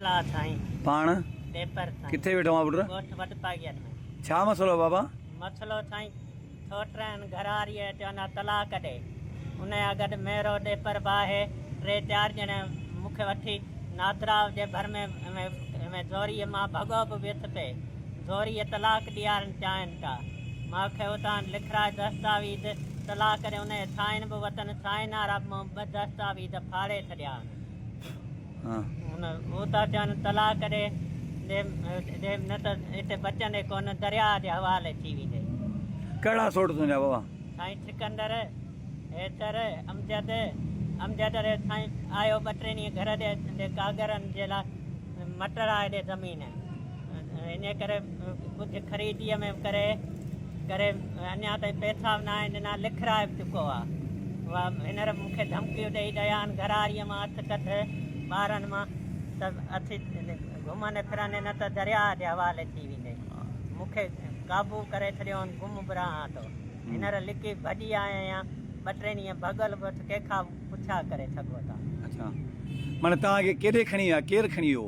لا سائين پاڻ پيپر سائين ڪٿي ويٺو آ پٽ. ڳوٺ وڏ پاڳيان ۾. ڇا مسئلو آ بابا. مسئلو سائين سوٽرهن گهراريء چون آ طلاق ڏي ان يا گڏ ميرو ڏيپر به آهي ٽي چار ڄڻي مون کي وٺي نادراء جي ڀر ۾ ۾ زوريء مان ڀڳو به ويس پي زوريء طلاق ڏيارڻ چاهين ٿا مان کي اتان لکرائي دستاويز طلاق ڏي انهيء سائين به وتن سائينارا مان ٻه دستاويز ڦاڙي ڇڏيا هئن. هن اوتا چون تلاء ڪري ڏي نه ته اتي بچندي ڪونه درياء جي حوالي ٿي ويندي. ڪهڙا سوٽ تنهنجا بابا. سائين سڪندر، حيدر، امجد، امجد ري سائين آيو ٻه ٽي ڏينهن گهر ڏي ڪاڳرن جي لاء مٽر آهي ڏي زمين. انهيء ڪري ڪجهه خريديء ۾ ڪري ڪري اڃا تائين پئسا به ناهن ڏنا، لکرائي به چڪو آ. اها هينئر مون کي ڌمڪيون ڏئي ڏيان گهراڙيء مان اٿ ڪڍ ٻارن مان ته اٿي گهمندي ڦرندي نه ته درياء جي حوالي ٿي ويندي. مون کي قابو ڪري ڇڏيو هن گم به رهان ٿو. هينئر لڪي ڀڄي آيو آهيان. ٻه ٽي ڏينهن ڀڳل به اٿ ڪنهن کان به پڇا ڪري سگهو ٿا. اڇا معني توهان کي ڪيڏي کڻي ويا ڪير کڻي ويو؟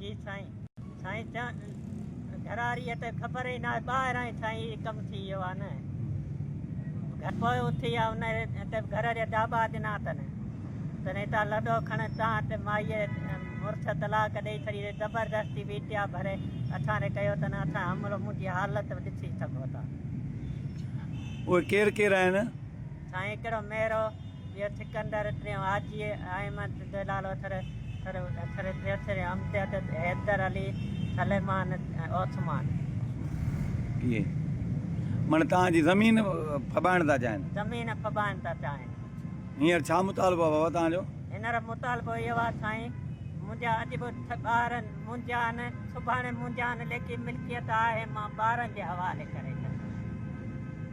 جي سائين سائين چان گھراري ته خبر ئي نه آهي ٻاهران ئي سائين هي ڪم ٿي ويو آهي نه گھر پوء اٿي آ ان هتي گھر جا ڊاٻا ڏنا اٿن تن هتان لڏو کڻ تان هتي مائي مڙس طلاق ڏئي ڇڏي ري زبردستي ويٽيا ڀري اٿان ري ڪيو تن اٿان حملو منهنجي حالت ڏسي سگھو ٿا اهي ڪير ڪير آهن؟ سائين هڪڙو ميرو، ٻيو سڪندر، ٽيون حاجي احمد، دلال اٿر، اٿر اٿر، تيسرين امجد، حيدر علي، سليمان، عثمان. اهي مڙ توهان جي زمين ڦٻائڻ ٿا چاهين؟ زمين ڦٻائڻ ٿا چاهين. هينئر ڇا مطالبو آهي بابا توهان جو؟ هينئر مطالبو اهو آهي سائين، منهنجا اڄ به ٻار منهنجا آهن، سڀاڻي منهنجا آهن، ليڪن ملڪيت آهي مان ٻارن جي حوالي ڪري ڇڏيندس.